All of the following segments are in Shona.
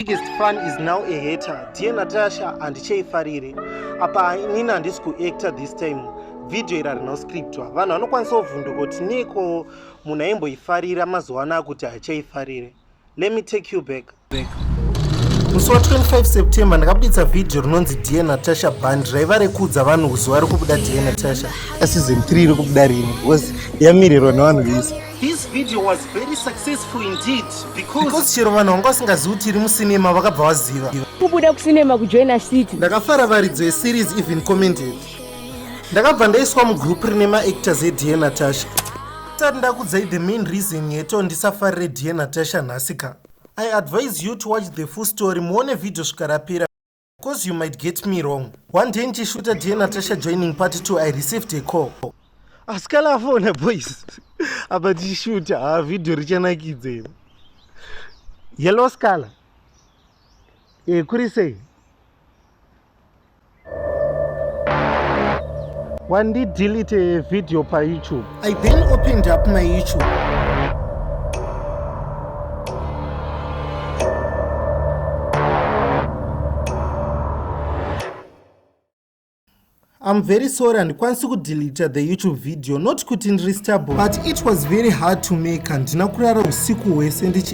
biggest fan is now a hater dear natasha handichaifarire apa inini handisi kuactor this time vhidhiyo iri harina kuscriptwa vanhu vanokwanisa kuvhunduka kuti neiko munhu aimboifarira mazuva ano akuti hachaifarire let me take you back, back. musi wa 25 september ndakabuditsa vhidhiyo rinonzi dear natasha band raiva rekuudza vanhu kuzuva rekubuda dear natasha season 3 rekubuda rini because yamirirwa nevanhu vese This video was very successful indeed because because chero vanhu vanga vasingazivi kuti iri musinema vakabva vaziva kubuda kusinema kujoina city ndakafara varidzo yeseries even commented ndakabva ndaiswa mugroup rine maactors edie natasha tati ndakudzai the main reason yeto ndisafarire die natasha nhasika i advise you to watch the full story muone vhidhiyo svikarapira Cause you might get me wrong. One day ndichishuta dear Natasha joining part 2 I received a call. Asikala afona boys. Apa ndichishuta ha ah, video richanakidza iri. Yellow Scala. Eh kuri sei? Wandi delete video pa YouTube. I then opened up my YouTube. I'm very sorry and kwansi ku delete the YouTube video not kuti ndiri stable but it was very hard to make and ndina kurara usiku hwese ndichi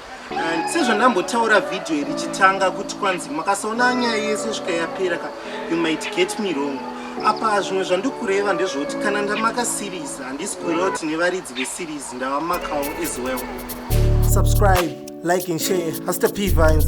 And sezvandambotaura video iri chitanga kuti kwanzi makasaona nyaya yese svika yapera ka you might get me wrong apa zvimwe zvandikureva ndezvoti kana ndamaka series handisi kureva kuti nevaridzi veseries ndavamakawo as well subscribe like and share haster p vines